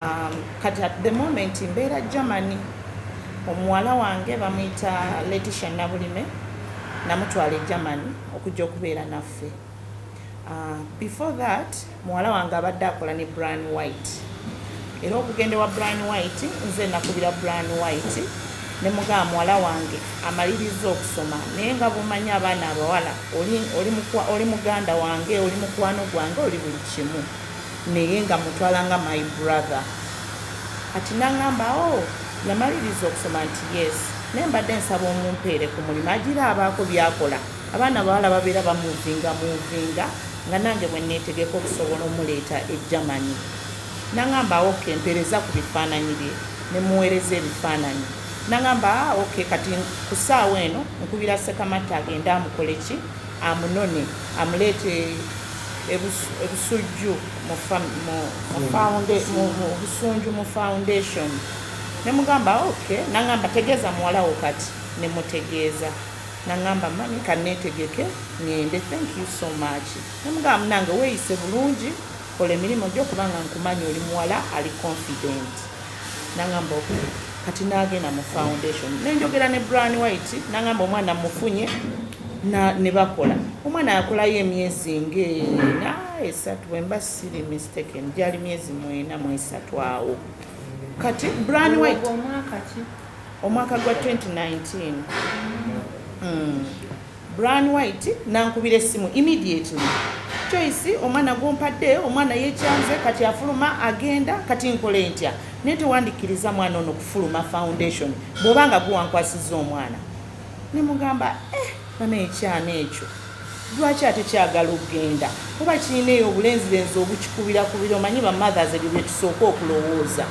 Um, kati at the moment mbeera Germany omuwala wange bamuyita Leticia Nabulime namutwala e Germany okujja okubeera naffe uh, before that muwala wange abadde akola ne Brian White era okugenda wa Brian White nze nakubira Brian White ne mugaba muwala wange amaliriza okusoma naye nga bumanyi abaana abawala oli muganda wange oli mukwano gwange oli buli kimu Naye nga mutwala nga my brother kati nangamba oh yamaliriza okusoma nti yes naye mbadde nsaba omumpeere ku mulimu agira abaako byakola abaana bawala babeera bamuvinga muvinga nga nange bwenetegeka okusobola omuleeta e germany nangamba ok mpereza ku bifaananyi bye nemuweereza ebifaananyi nangamba ah, ok kati ku ssaawa eno nkubira sekamatte agende amukoleki amunone amuleete e Busujju mu Busunju mu foundation ne mugamba ok nangamba tegeeza muwala wo kati ne mutegeeza nangamba mami kaneetegeke ngende thank you so much ne mugamba munange weeyise bulungi kola emirimu gyo kubanga nkumanyi oli muwala ali confident nangamba ok kati nagenda mu foundation nenjogera ne bran white nangamba omwana mufunye nebakola omwana yakolayo emyezi ngeena esatu wemba siri mistaken gyali myezi mwena mwesatu awo kati bran white omwaka gwa 2019 mm. Bryan White nankubira essimu immediately Joyce omwana gwompadde omwana yekyanze kati afuluma agenda kati nkole ntya naye tewandikkiriza mwana ono kufuluma foundation bwoba nga guwankwasizza omwana nemugamba eh bana ekyana ekyo lwaki ate kyagala okugenda kuba kirina eyo obulenzirenzi obukikubira kubira omanyi bamothers ebyo byetusooka okulowooza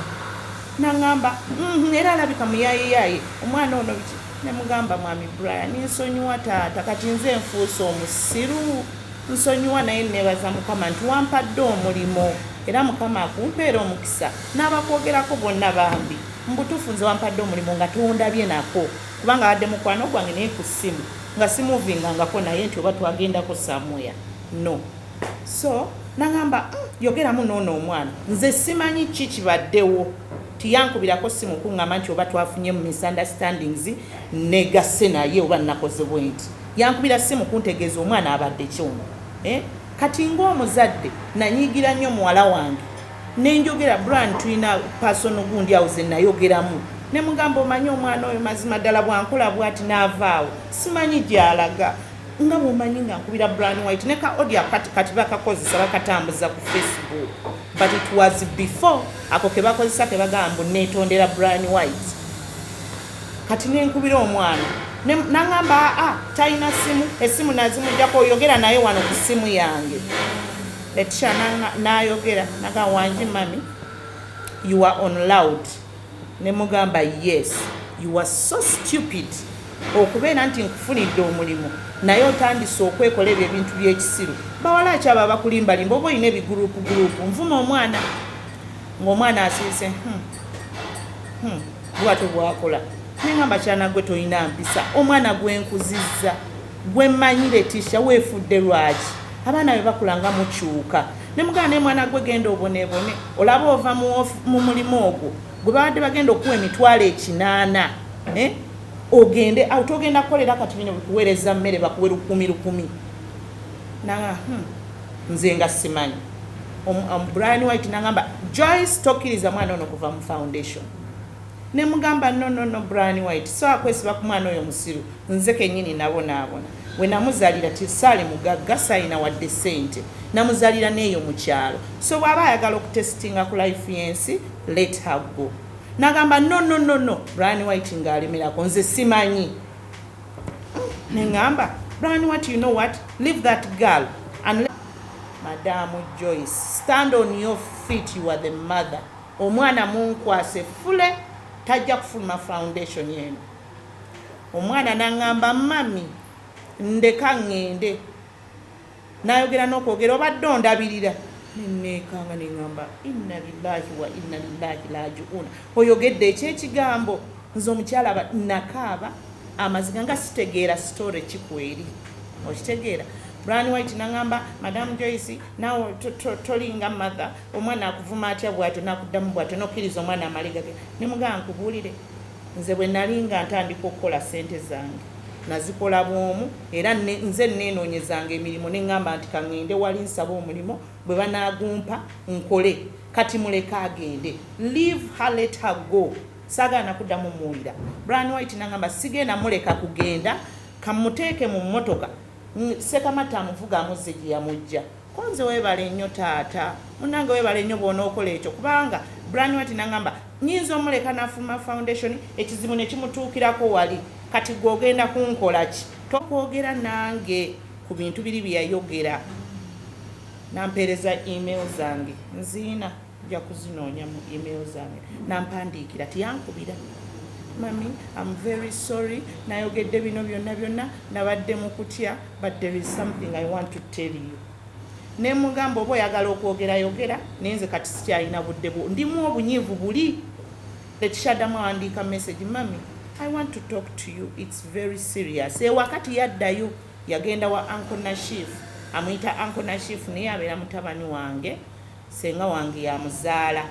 naŋamba mm-hmm, era alabika muyayeyaye omwana ono biki Ne mugamba, Mwami Brian, nsonyiwa taata, kati nze nfuuse omusiru. Nsonyiwa, naye nneebaza Mukama nti wampadde omulimu, era Mukama akumpeere omukisa. N'abakwogerako bonna bambi, mu butuufu nze wampadde omulimu nga tondabye nako, kubanga abadde mukwano gwange naye ku ssimu nga simuuvingangako naye nti oba twagendako somewhere. No. So, n'aŋamba, Uhm, yogeramu n'ono omwana. Nze simanyi ki kibaddewo. nti yankubirako ssimu kungamba nti oba twafunye mu misunderstandings negase naye oba nakoze bwenti yankubira ssimu kuntegeeza omwana abadde kyono eh? kati ngaomuzadde nanyiigira nnyo muwala wange nenjogera bran tulina pasono gundi awo zenayogeramu nemugamba omanyi omwana oyo mazima ddala bwankola bwati naavaawo simanyi gyalaga nga bwomanyi nga nkubira bran white neka odia kati kati bakakozesa bakatambuza ku facebook but it was before Ako kebakozesa kebagamba mbu netondera Brian White. Kati nenkubira omwana nangamba aa ah, talina simu esimu nazimujjako oyogera naye wano ku simu yange letisha nayogera naga wangi mami you are on loud nemugamba yes you are so stupid Okubeera nti nkufunidde omulimu naye otandise okwekola ebyo ebintu by'ekisiru. Bawala ki abo abakulimbalimba oba olina ebiguruupuguruupu? Nvuma omwana ng'omwana asirise hmm, hmm, bwatyo bwakola naye nga mbakyana gwe tolina mpisa omwana gwenkuzizza gwe mmanyi letisha weefudde lwaki abaana be bakula nga mukyuka ne mugana naye mwana gwe genda obonebone olaba ova mu mulimu ogwo gwe babadde bagenda okuwa emitwalo ekinaana eh? ogende awo togenda kukolera kati bino bikuweereza mmere bakuwe lukumi lukumi naa hmm, nze nga simanyi brian white nagamba joyce tokiriza mwana ono kuva mu foundation nemugamba nonono brian white so akwesiba ku mwana oyo musiru Nze kenyini nabonaabona wenamuzalira till saali mugagga saalina wadde ssente namuzalira neeyo mukyalo so bwaba ayagala okutestinga ku life yensi let her go nagamba no no no no Brian white nga alemerako nze simanyi nengamba Brian white you know what leave that girl and madamu Joyce stand on your feet you are the mother omwana munkwase fule tajja kufuluma foundation yenu Omwana n'aŋŋamba, Mmami, ndeka ŋŋende. N'ayogera n'okwogera, Obadde ondabirira? Ne nneekanga ne ŋŋamba, Inna lillaahi wa inna lillaahi raaji'uuna. Oyogedde ekyo ekigambo? Nze omukyala aba, nnakaaba amaziga nga sitegeera sitoore ki kweri. Okitegeera? Bryan White n'aŋŋamba, Madam Joyce, naawe tolinga mother, omwana akuvuma atya bw'atyo n'akuddamu bw'atyo, n'okkiriza omwana amale gagende? Ne mugamba, Nkubuulire? Nze bwe nnali nga ntandika okukola ssente zange, nazikola bw'omu era nze nneenoonyezanga emirimu ne ŋŋamba nti ka ŋŋende wali nsabe omulimu bwe banaagumpa nkole. Kati muleke agende. Leave her, let her go. Saagala na kuddamu mmuwulira. Bryan White n'aŋŋamba, sigenda mmuleka kugenda, ka mmuteeke mu mmotoka, Ssekamatte amuvuge amuzze gye yamuggya. Konze webale nnyo taata. Munange webale nyo bwonokola ekyo kubanga Branwhite nangamba nyinza omuleka nafuma foundation ekizibu nekimutuukirako wali kati gwe ogenda kunkolaki tokwogera nange ku bintu biri byeyayogera nampeereza email zange nziina. Nja kuzinoonya mu email zange. N'ampandiikira. Teyankubira. Mummy, I'm very sorry. Nayogedde bino byonna byonna. Nabadde mu kutya. But there is something I want to tell you. Ne mugamba oba oyagala okwogera yogera. Naye nze kati sikyalina budde bwo. Ndimu obunyiivu buli. Letishadamu awandiika message. Mummy, I want to talk to you. It's very serious. E wakati yaddayo yagenda wa Uncle Nashif. Amuyita Uncle Nashif naye abeera mutabani wange. Ssenga wange y'amuzaala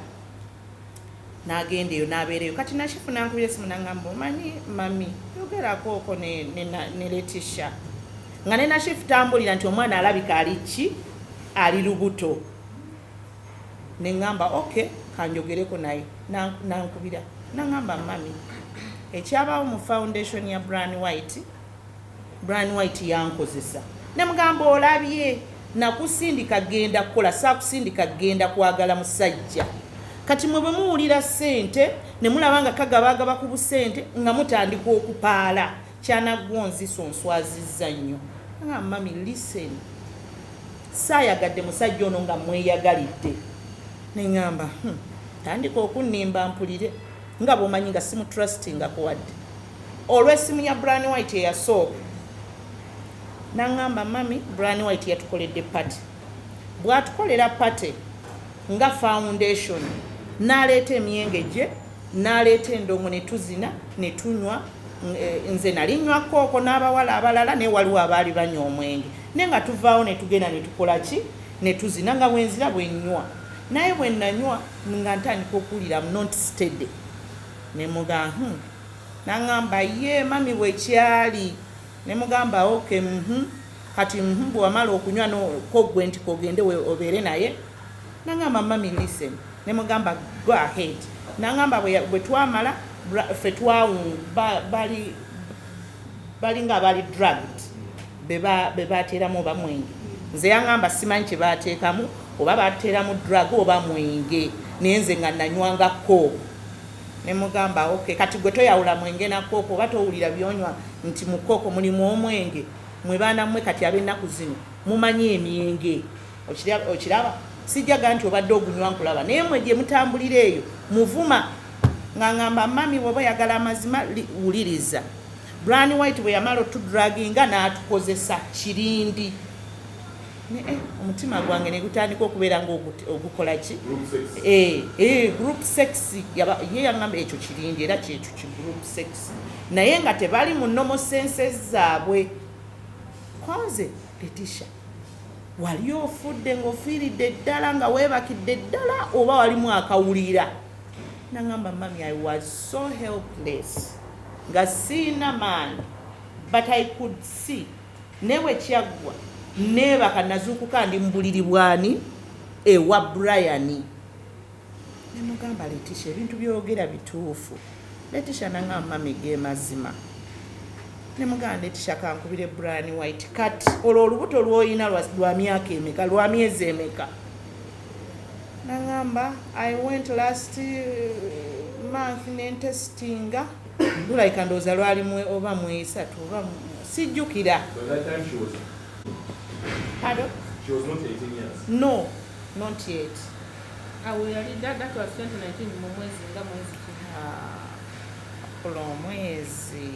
n'agenda eyo n'abeera eyo. Kati Nashifu n'ankubira essimu n'angamba omanyi mami yogerakoko ne, ne, ne, ne Letisha nga ne Nashifu tambulira nti omwana alabika ali ki ali lubuto ne ngamba okay kanjogereko naye nankubira nangamba mami ekyabaawo mu foundation ya Bran White Bryan White yankozesa ne mugamba olabye nakusindika kugenda kukola saakusindika kugenda kwagala musajja kati mwe bwe muwulira ssente ne mulaba nga kagabaagaba ku busente nga mutandika okupaala kyanaggwa onzisa onswazizza nnyo nga mami listen saayagadde musajja ono nga mweyagalidde ne ŋamba hmm, tandika okunnimba mpulire nga bwomanyi nga simutrustinga kuwadde olw'essimu ya Bran White eyasooka n'angamba mami Bran White yatukoledde pati bw'atukolera pati nga foundation n'aleeta emyenge gye n'aleeta endongo ne tuzina ne tunywa eh, nze nali nywa kooko n'abawala abalala naye waliwo abaali banywa omwenge naye nga tuvaawo ne tugenda ne tukola ki ne tuzina nga bwenzira bwe nnywa naye bwe nanywa nga ntandika okuwulira mnont stede Ne muga, Uhmm. N'angamba, Yee, mummy, bwe kyali. Ne mugamba, Ok, uhmm. Kati, uhmm, bwe wamala okunywa no, ko ggwe nti k'ogende we, obeere naye. N'angamba, Mummy, listen. Ne mugamba, Go ahead. N'angamba, Bwe ya, bwe twamala, bra, ffe twawunga, ba, bali, balinga abali drugged. be baateeramu oba mwenge nze yangamba simanyi kye baateekamu oba baateeramu drug oba mwenge naye nze nga nanywanga kooku ne mugamba ok kati gwe toyawula mwenge na kooku oba towulira byonywa nti mu kooku mulimu omwenge mwe baana mmwe kati ab'ennaku zino mumanyi emyenge okiraba sijjaga nti obadde ogunywa nkulaba naye mwe gye mutambulira eyo muvuma nga ngamba mami woba oyagala amazima wuliriza Bryan White bwe yamala otudraginga n'atukozesa kirindi ne eh, omutima gwange ne gutandika okubeera ng'ogukola ki eh, eh, group sex ye yaŋamba ekyo kirindi era kyekyo ki group sex naye nga tebali mu nomo senses zaabwe konze letisha wali ofudde ng'ofiiridde ddala nga weebakidde ddala oba walimu akawulira naŋamba mami i was so helpless Nga siyina maanyi but I could see naye bwekyaggwa nebaka nazuukuka ndi mubuliri bwani ewa Brian nemugamba Leticia ebintu byogera bituufu Leticia nangamba mami gemazima nemugamba Leticia kankubire Brian White kati olwo olubuto lwoyina lwa myaka emeka lwa myezi emeka nangamba i went last month nentestinga lulabika ndowooza lwali oba mwesatu oba sijjukira no not yet awo yali dada twa 2019 mu mwezi nga mwezi ah, kulo omwezi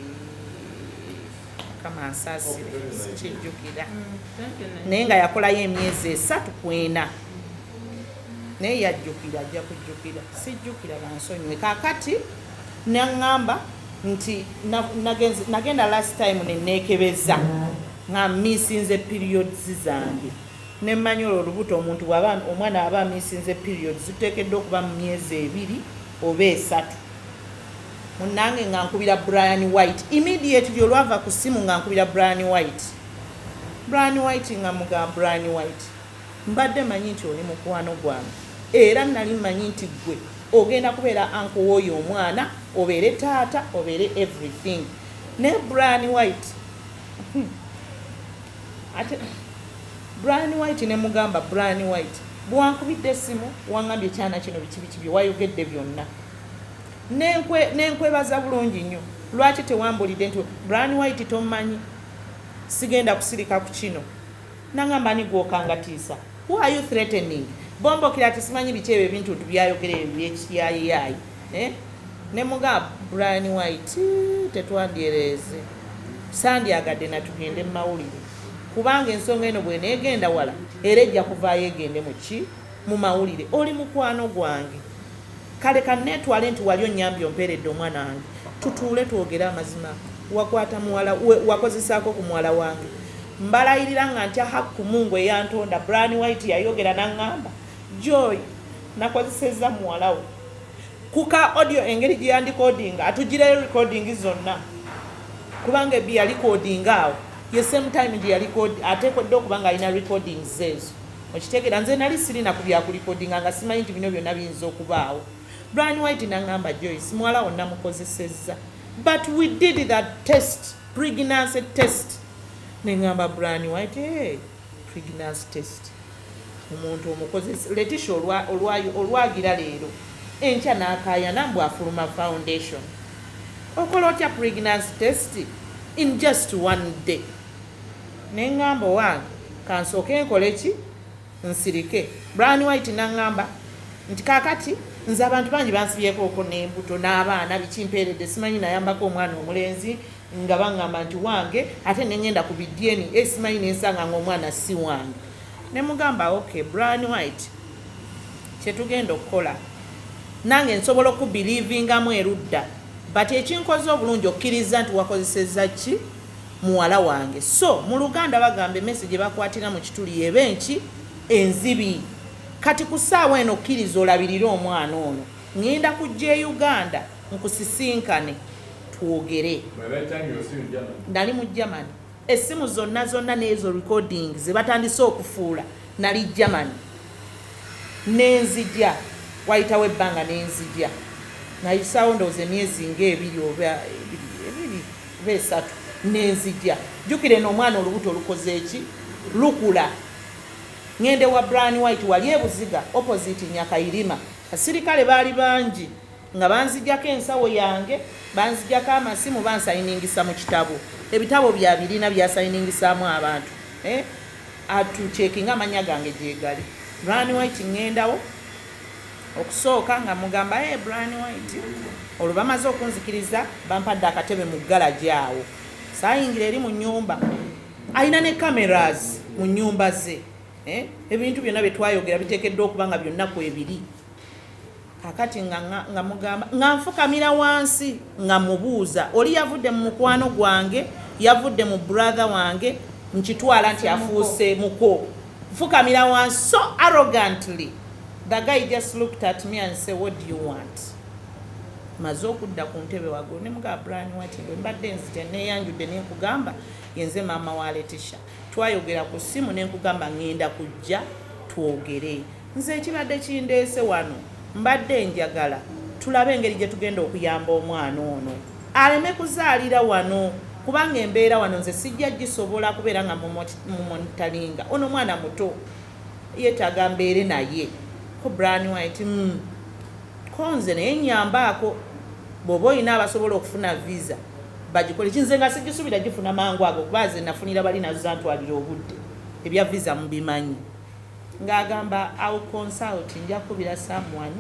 mukama ansasire sikijjukira naye nga yakolayo emyezi esatu kwena naye yajjukira ajja kujjukira sijjukira bansonyiwe kakati naŋŋamba nti nagenda last time neneekebeza nga misinze periods zange nemmanyi olwo olubuto omuntu bwaba omwana aba misinze periods tuteekeddwa okuba mu myezi ebiri oba esatu munange nga nkubira Brian White immediately olwava ku simu nga nkubira Brian White Brian White nga muga Brian White mbadde manyi nti oli mukwano gwange era nali manyi nti gwe ogenda kubeera anko w'oyo omwana obeere taata obeere everything ne Brian White hmm. ate Brian White ne mugamba Brian White bwankubidde esimu wangambye ekyana kino biki biki bye wayogedde byonna Nenkwe nenkwebaza bulungi nnyo. Lwaki tewambulide nti Brian white tomanyi? Sigenda kusilika kukino. Nangamba ani gwokangatiisa? Who are you threatening? Bombokira ati simanyi biki ebyo ebintuntu byayogera ebyo byekiyayiyayi eh? Nemuga Brian white tetwandyereeze. Sandyagadde natugende mumawulire. Kubanga ensonga eno bwenegenda wala era ejja kuvaayo egende mu ki? mu mawulire oli mukwano gwange kale kanneetwale nti wali onnyambye ompeeredde omwana wange tutuule twogere amazima wakwata muwala wakozesaako ku muwala wange mbalayirira nga ntya hakku mungu eyantonda bran white yayogera naŋŋamba joy nakozesezza muwalawo kuka audio engeri gye yandikodinga atugireyo recording zonna kubanga ebbi yalikodinga awo ye same time gye yalikod ateekodde okubanga alina recording zeezo Okitegera nze nali sirina ku bya kulikodinga nga simanyi nti bino byona biyinza okubaawo. Brian White nangamba Joyce muwala wo namukozesezza but we did that test pregnancy test nengamba Brian White hey, pregnancy test omuntu omukozesa Leticia olwagira leero enkya nakayana mbu afuluma foundation okola otya pregnancy test in just one day Nengamba owange kansooke nkole ki? Nsirike. Bryan White nangamba nti kakati nze abantu bangi bansibyekooko nembuto n'abaana biki mpeeredde simanyi nayambako omwana omulenzi nga bangamba nti wange ate nengenda ku bi DNA simanyi nensanga nga omwana si wange nemugamba ok Bryan White kyetugenda okukola nange nsobola okubelivingamu erudda but ekinkoze obulungi okkirizza nti wakozesezza ki muwala wange so muluganda bagamba emese gyebakwatira mukituli yeba enki enzibi kati kusaawa eno kiriza olabirire omwana ono ngenda kujja e Uganda nkusisinkane twogere nali mu Germany essimu zonna zonna nezo recording zebatandise okufuula nali Germany nenzija wayitawo ebbanga nenzija nayisaawo ndowooza emyezi nga ebiri oba ebiri Oba esatu nenzija jukira eno omwana olubuto lukoze ki lukula ngende wa Brian White wali ebuziga opposite Nyakairima. Abasirikale baali bangi nga banzijako ensawo yange banzijako amasimu bansayiningisa mu kitabo ebitabo bya birina byasayiningisaamu abantu eh? atu cekinga amanya gange gyegali Brian White ngendawo Okusooka nga mmugamba eeh Bryan White. Olwo bamaze okunzikiriza bampadde akatebe mu galagi awo saayingira eri mu nnyumba. Alina ne cameras mu nnyumba ze. Ebintu byonna bye twayogera biteekeddwa okuba nga byonna kwebiri. Kaakati nga nga mmugamba nga nfukamira wansi nga mmubuuza oli yavudde mu mukwano gwange, yavudde mu brother wange nkitwala nti afuuse muko. Nfukamira wansi so arrogantly. The guy just looked at me and say what do you want? maze okudda ku ntebe wagulu ne mugaa bran wati bwe mbadde nzija neeyanjudde ne nkugamba yenze maama wa letisha twayogera ku ssimu ne nkugamba ŋŋenda kujja twogere nze ekibadde kindeese wano mbadde njagala tulabe engeri gye tugenda okuyamba omwana ono aleme kuzaalira wano kubanga embeera wano nze sijja gisobola kubeera nga mumonitalinga ono mwana muto Yetaga mbeere naye ko branywa eti uhmm ko nze naye nyambaako bwoba olina abasobola okufuna visa bagikole ki nze nga sijisubira jifuna mangu ago kuba nze nafunira bali nazo zantwalira obudde ebya visa mubimanyi nga agamba I'll consult nja kubira someone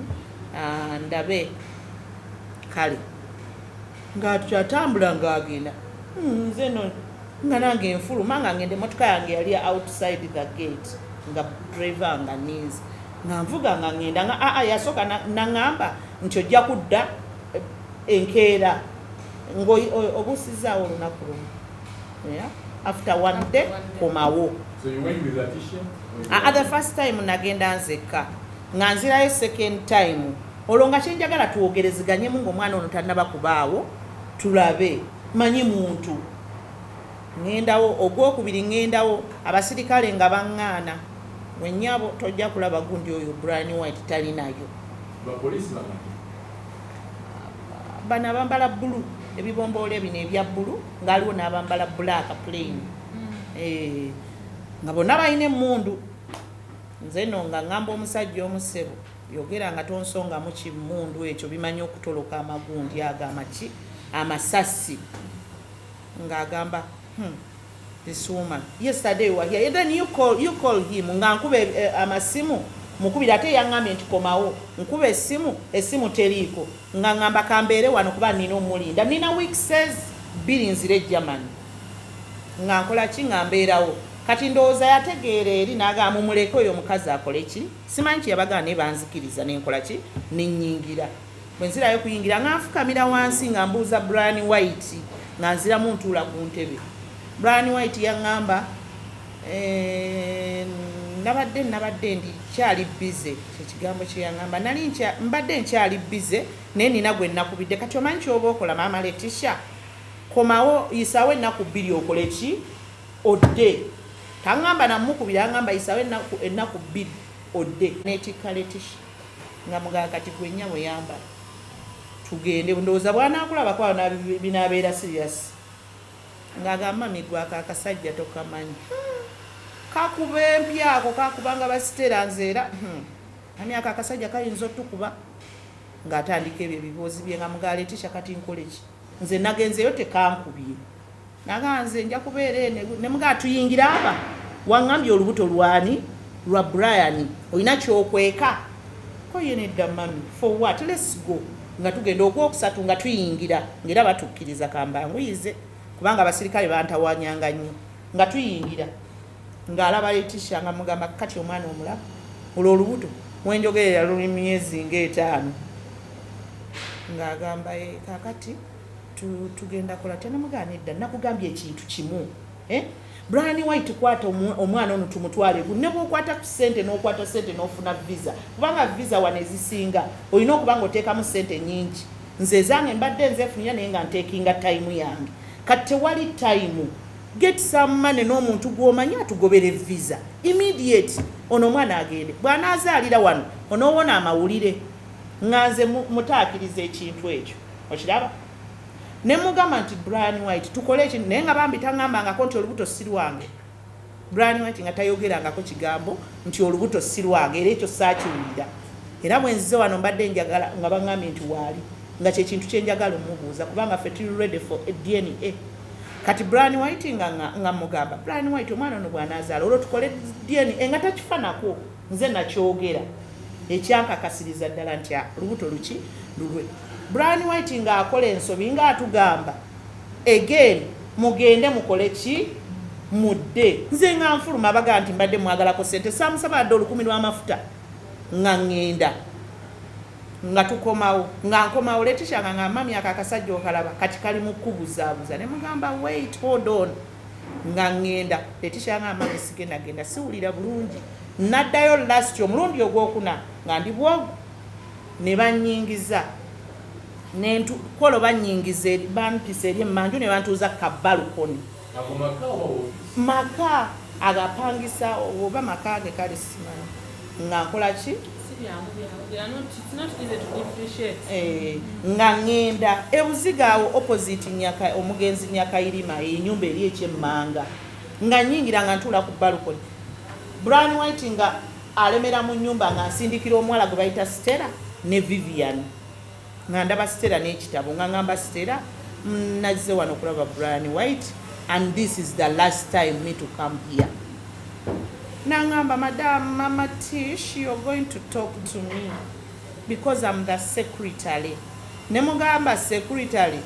uh, ndabe kale nga akyatambula nga agenda hmm, nze no nga nange nfuluma nga ngenda emotoka yange yali outside the gate nga driver nga ninze nga nvuga nga ngenda nga aa yasooka naŋamba nti ojja kudda eh, enkeera ng'obuusizaawo olunaku lumu after one day komawo the first time nagenda nzekka nga nzirayo second time olwo nga kyenjagala twogereziganyemu ngaomwana ono tanaba kubaawo tulabe manyi muntu Ŋŋendawo, ogw'okubiri ŋŋendawo, abasirikale nga baŋŋaana. Ggwe nnyabo, tojja kulaba gundi oyo Bryan White talinayo. Bapoliisi bameka? Bano abambala bbulu, ebibomboola bino ebya bbulu, nga waliwo n'abambala bbulaaka plain. Eeh, nga bonna balina emmundu. Nze nno nga ŋŋamba omusajja omu, ssebo. Yogera nga tonsongamu ki mundu ekyo bimanyi okutoloka amagundi ago amaki amasasi nga agamba humm this woman yesterday you were here and then you call, you call him nga nkuba eh, eh, amasimu mukubira ate yangambye nti komawo nkuba esimu esimu teriiko nga ngamba kambeere wano kuba nina omulinda nina weekses bbiri nzira ejamani nga nkola ki nga mbeerawo kati ndowooza yategeera eri naga mumuleke oyo omukazi akole ki Simanyi kye yabagamba naye banzikiriza ne nkola ki? Ne nnyingira. Bwe nzirayo okuyingira nga nfukamira wansi nga mbuuza Brian White nga nziramu ntuula ku ntebe. Brian White yaŋŋamba eh, nabadde nabadde ndi kyali bize kyekigambo kyeyaŋamba nali mbadde nkyali bize naye nina gwe nakubidde kati omanyi kyoba okola maama letisha komawo yisaawo ennaku bbiri okole ki odde. Tangamba namukubira yangamba yisawo ennaku ennaku bbiri odde. Netikka Leticia nga mugamba kati gwe nnyabo yambala tugende ndowooza bwanakulabako awo binabeera serious nga agamba mami gwe ako akasajja tokamanyi kakuba empi ako kakubanga basitera nze era hmm, mami ako akasajja kayinza otukuba ng'atandika ebyo ebiboozi bye nga mugaa Leticia kati nkoleki nze nagenzeyo tekankubye Naga nze nja kubeera eno ne mugaa tuyingira aba wangambye olubuto lwani lwa Brian olina kyokweka ko ye nedda mami for what let's go nga tugenda ogwokusatu nga tuyingira ngera batukkiriza kambanguyize kubanga abasirikale bantawanyanga nnyo nga tuyingira ng'alaba Leticia nga mugamba kati omwana omulaba olwo olubuto wenjogerera luli myezi ng'etaano ng'agamba eh, kakati Tu, tugenda kola tenamugaa nedda nakugambye ekintu kimu eh? Brian White kwata omwana ono tumutwale ku ne bwokwata ku sente n'okwata sente n'ofuna visa kubanga visa wano ezisinga olina okuba nga oteekamu sente nyingi nze ezange mbadde nzefunira naye nga nteekinga tayimu yange kati tewali tayimu get some money n'omuntu gw'omanyi atugobere visa immediate ono omwana agende bw'anaazaalira wano onoowona amawulire nga nze mutaakiriza ekintu ekyo okiraba ne mugamba nti Brian White tukole eki naye nga bambi tangambangako nti olubuto si lwange Brian White nga tayogerangako kigambo nti olubuto si lwange era ekyo saakiwulira era bwenzize wano mbadde njagala nga bangambye nti waali nga kyekintu kyenjagala omubuuza kubanga fe tuli ready for a DNA kati Brian White nga nga mugamba Brian White omwana ono bwanazaala olwo tukole DNA nga takifanako Nze nakyogera ekyankakasiriza ddala nti a lubuto luki lulwe. Brian white nga akola ensobi nga atugamba again mugende mukole ki mudde nze nga nfuluma abaga nti mbadde mwagalako sente samusaba adde olukumi lwamafuta nga ngenda nga tukomawo nga nkomawo letisha nga nga mami ako akasajja okalaba kati kali mukubuzabuza ne mugamba wait hold on nga ŋŋenda Leticia nga amaanyi sigenda genda siwulira bulungi naddayo last omulundi ogwokuna nga ndi bwogu ne bannyingiza nentukwolo bannyingiza eri bampisa eri emmanju ne bantuuza ku kabbalukoni maka agapangisa oba maka ge kale simanyi nga nkola ki eh, nga ŋŋenda ebuziga awo opposite nyaka omugenzi nyakayirima enyumba eri ekyemmanga nga nyingira nga ntuula ku balukoni bran white nga alemera mu nyumba nga nsindikira omuwala gwe bayita stella ne vivian nga ndaba Stella n'ekitabo nga ngamba Stella mm, nazze wano okulaba Brian White and this is the last time me to come here nangamba madam mama tish you're going to talk to me because I'm the secretary ne mugamba secretary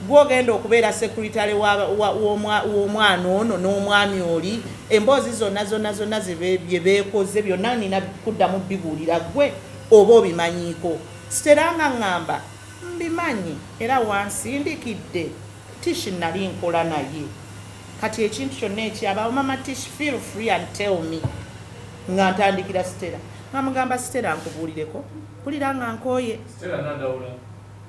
gwogenda okubeera secretary w'omwana ono n'omwami oli emboozi zonna zonna zonna bye beekoze byonna nina kuddamu bibuulira gwe oba obimanyiiko Stella nga ngamba mbimanyi era wansindikidde Tish nali nkola naye kati ekintu kyonna ekyabaawo mama Tish feel free and tell me nga ntandikira Stella nga mugamba Stella nkubuulireko mpulira nga nkooye Stella nadawula.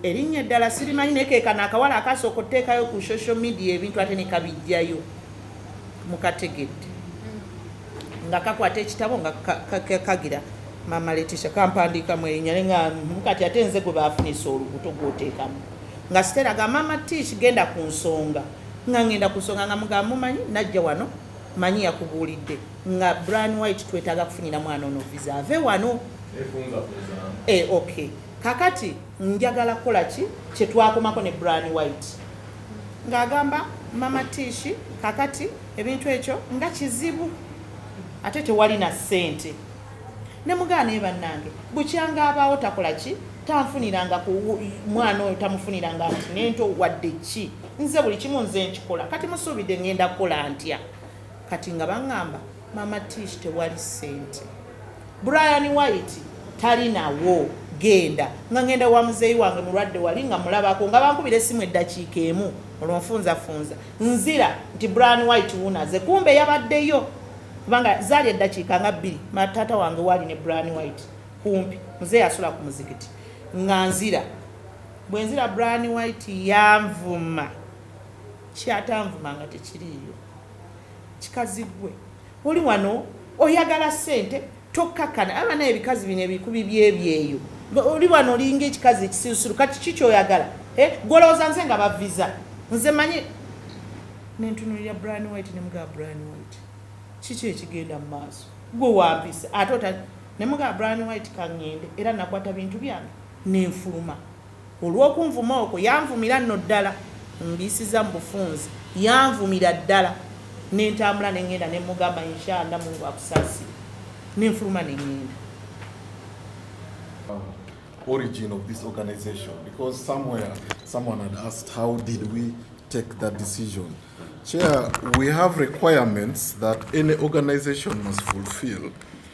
Erinnya eddala sirimanyi naye ke kano akawala akaasooka oteekayo ku social media ebintu ate ne kabijjayo mukategedde. nga kakwata ekitabo nga kagira mama letisha kampandiika mwerinya nga kati ate nze gwe bafunisa olubuto gwoteekamu nga sitera ga mama tish genda ku nsonga nga ngenda ku nsonga nga mugamba mumanyi najja wano manyi yakubuulidde nga bran white twetaaga kufunira mwana ono visa ave wano e, okay kakati njagala kukola ki kyetwakomako ne bran white nga agamba mama tishi kakati ebintu ekyo nga kizibu ate tewali na sente nemugaa naye bannange bukyanga abaawo takola ki tanfuniranga ku mwana oyo tamufuniranga nti nento wadde ki nze buli kimu nze nkikola kati musuubidde ngenda kukola ntya kati nga baŋŋamba Mama Tish tewali sente. Brian White talinawo genda nga ngenda wa muzeeyi wange mulwadde wali nga mulabako nga bankubira essimu eddakiika emu olwo nfunzafunza nzira nti bran white wunaze kumbe yabaddeyo kubanga zaali eddakiika nga bbiri mataata wange waali ne bran white kumpi muzeeyi asula ku muzikiti nga nzira bwe nzira bran white yanvuma kyatanvuma nga tekiriiyo Kikazi gwe oli wano oyagala sente tokakana aba naye ebikazi bino ebikubi byebyeyo oli wano olinga ekikazi ekisirusiru kati ki kyoyagala eh, gwe olowooza nze nga baviza nze manyi nentunulira bran white nemugaa bran white kiki ekigenda mu maaso gwe wampisa ate ota nemugaa bran white kangende era nakwata bintu byange nenfuluma Olw'okunvuma okwo, yanvumira nno ddala ngiyisizza mu bufunze. Yanvumira ddala ne ntambula ne ngenda ne mmugamba Insha Allah Mungu akusaasire ne nfuluma ne ngenda. origin of this organization because somewhere someone had asked how did we take that decision. Chair, we have requirements that any organization must fulfill.